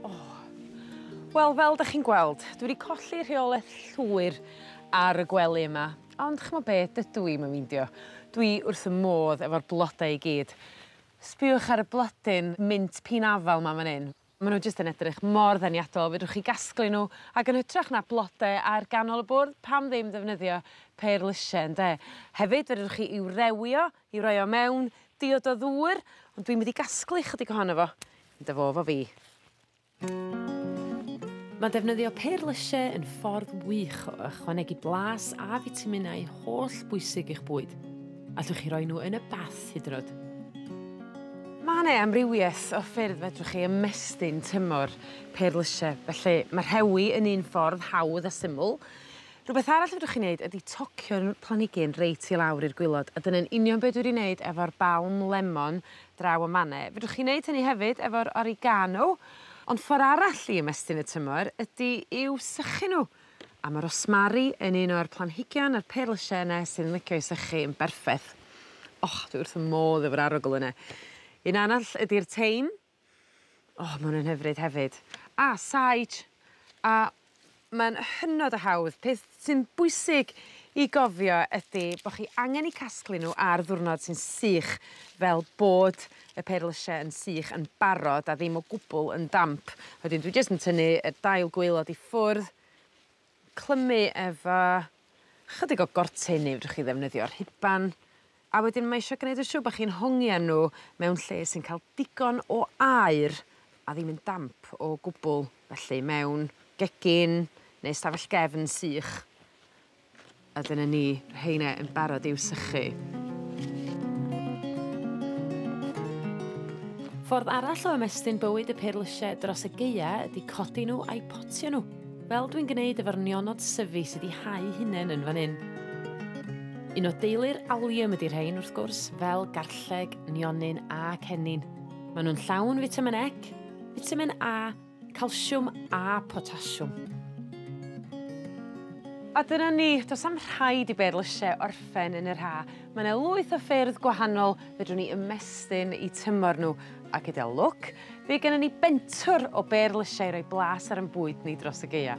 O! Wel, fel 'dach chi'n gweld, dwi 'di colli rheolaeth llwyr ar y gwely yma, ond ch'mo' be', dydw i'm yn meindio. Dwi wrth 'ym modd efo'r blode i gyd. Sbïwch ar y blodyn mint pîn afal 'ma man 'yn. Ma' n'w jyst yn edrych mor ddeniadol fedrwch chi gasglu n'w ag yn hytrach na blode ar ganol y bwrdd pam ddim ddefnyddio pêr lysie ynde? Hefyd fedrwch chi i'w rewio i roi o mewn diod o ddŵr ond dwi'n mynd i gasglu chydig ohono fo i dy fo 'fo fi. Ma' defnyddio pêr lysie yn ffordd wych o ychwanegu blas a fitaminau holl bwysig i'ch bwyd. Allwch chi roi nhw yn y bath hyd yn o'd. Ma' 'ne amrywieth o ffyrdd fedrwch chi ymestyn tymor perlyse felly ma' rhewi yn un ffordd hawdd a syml. Rwbeth arall fedrwch chi neud ydi tocio'r planigyn reit i lawr i'r gwilod a dyna'n union be' dwi 'di neud efo'r balm lemon draw yn man 'ne. Fedrwch chi neud hynny hefyd efo'r oregano ond ffor arall i ymestyn y tymor ydi i'w sychu n'w. A ma' rosmari yn un o'r planhigion yr perlyse yne sy'n licio i sychu yn berffeth. O dwi wrth fy modd efo'r arogl yne. Un arall ydi'r teim. O ma' wnna'n hyfryd hefyd. A sage a ma'n hynod o hawdd peth sy'n bwysig i gofio ydi bo' chi angen 'u casglu n'w ar ddiwrnod sy'n sych fel bod y perlyse yn sych yn barod a ddim o gwbwl yn damp wedyn dwi jyst yn tynnu y dail gwaelod i ffwrdd clymu efo chydig o gortyn neu fedrwch chi ddefnyddio rhuban a wedyn mae isio gneud yn siŵr bo' chi'n hongian n'w mewn lle sy'n ca'l digon o aer a ddim yn damp o gwbwl felly mewn gegin ne' stafell gefn sych. A dyna ni, rheine yn barod i'w sychu. Ffordd arall o ymestyn bywyd y perlysie dros y gaea ydy codi nhw a'u potio nhw, fel dwi'n gwneud efo'r nionod syfu sydd 'di hau hunain yn fan hyn. Un o deulu'r Allium ydy rhein wrth gwrs, fel garlleg, nionyn a cennin. Maen nhw'n llawn fitamin E, fitamin A Calsiwm a potasiwm. A dyna ni, do's 'am rhaid i bêr lysie orffen yn yr Ha. Ma' 'ne lwyth o ffyrdd gwahanol fedrwn ni ymestyn 'u tymor n'w, a gyda lwc by' gennon ni bentwr o bêr lysie i roi blas ar 'yn bwyd ni dros y Gaea.